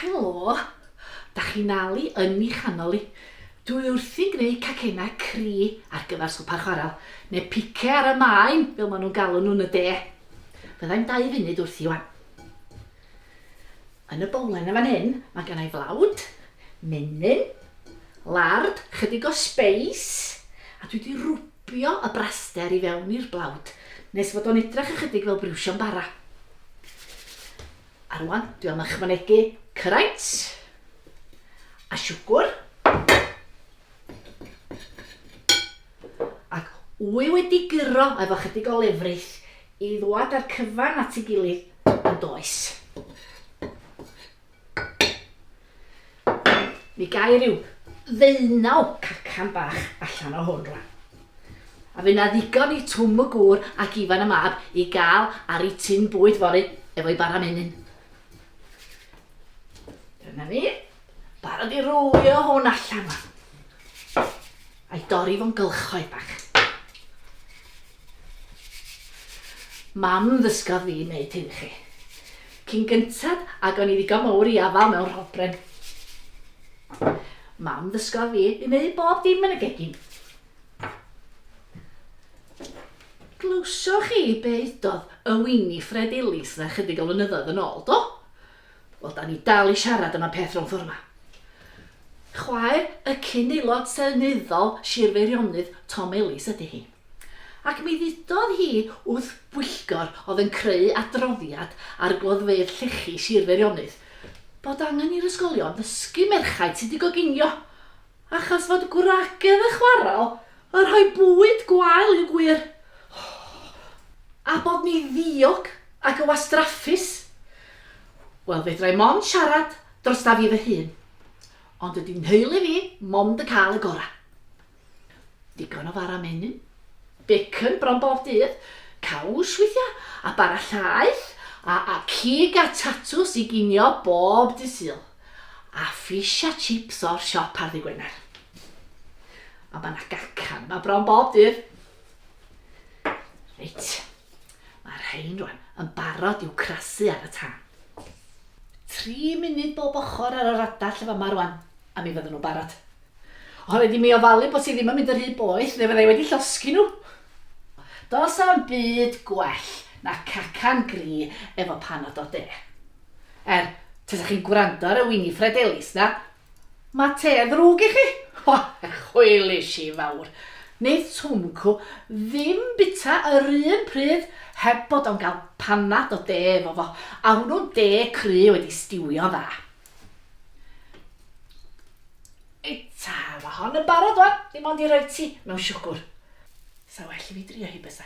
Helo, da chi'n ali yn mi chanol i. Dwi wrthi'n gwneud cacenau cri ar gyfer swper chwarel, neu pice ar y maen, fel maen nhw'n galw nhw'n y de. Fyddai'n dau funud wrth i wan. Yn y bowlen yn fan hyn, mae genna i flawd, menyn, lard, chydig o sbeis, a dwi 'di rwbio y braster i fewn i'r blawd, nes fod o'n edrach ychydig fel briwsion bara. A rwan, dwi am ychwanegu cyraints, a siwgwr, ac wy wedi guro efo chydig o lefrith i ddwad â'r cyfan at ei gilydd yndoes? Mi gai ryw ddeunaw cacan bach allan o hwn rwan. A fy na ddigon i Twm y gŵr ac Ifan y mab i gael ar ei tin bwyd fory efo'i bara menyn. Dyna ni. Barod i rwlio hwn allan rwan. A'i dorri fo'n gylchoedd bach. Mam ddysgodd fi wneud hyn i chi. Cyn gyntaf, ac o'n i ddigon mowr i afael mewn rhobren. Mam ddysgodd fi i wneud bob dim yn y gegin. Glywsoch chi be udodd y Winifred Ellis 'na chydig o flynyddoedd yn ôl, do? Wel, da ni dal i siarad am y peth rownd ffordd 'ma. Chwaer y cyn-Aelod Seneddol Sir Feirionydd Tom Ellis ydy hi. Ac mi ddudodd hi wrth bwyllgor oedd yn creu adroddiad ar gloddfeydd llechi Sir Feirionydd bod angen i'r ysgolion ddysgu merchaid sut i goginio. Achos fod gwragedd a chwarel yn rhoi bwyd gwael i'w gwyr. A bod ni ddiog ac yn wastraffus. Wel, fedra i mond siarad drosta fi fy hun. Ond dydy nheulu fi mond yn cael y gorau. Digon o fara menyn, bacon bron bob dydd, caws weithiau, a bara llaeth, a, a cig a tatws i ginio bob dydd Sul. A fish a chips o'r siop ar ddy' Gwener. A mae yna gacan, mae bron bob dydd. Reit, mae'r rhain rwan yn barod i'w crasu ar y tân. Tri munud bob ochr ar yr adar lle fama rwan, a mi fydden nhw'n barod. O, rhaid i mi ofalu bod hi ddim yn mynd yn rhy boeth, neu fydda i wedi llosgi nhw. Does am byd gwell na cacan gri efo pan o do de. Er, tasa chi'n gwrando ar y Winifred Ellis 'na, ma' te yn ddrwg i chi! O, chwilish i fawr! Neith Swmcw ddim bita yr un pryd heb bod o'n gael panad o de efo fo, a hwnnw'n de cry wedi stiwio'n dda. Ei ta, ma' hon yn barod wan, dim ond i roi ti mewn siwgwr. Sa well i fi drio hi bysa?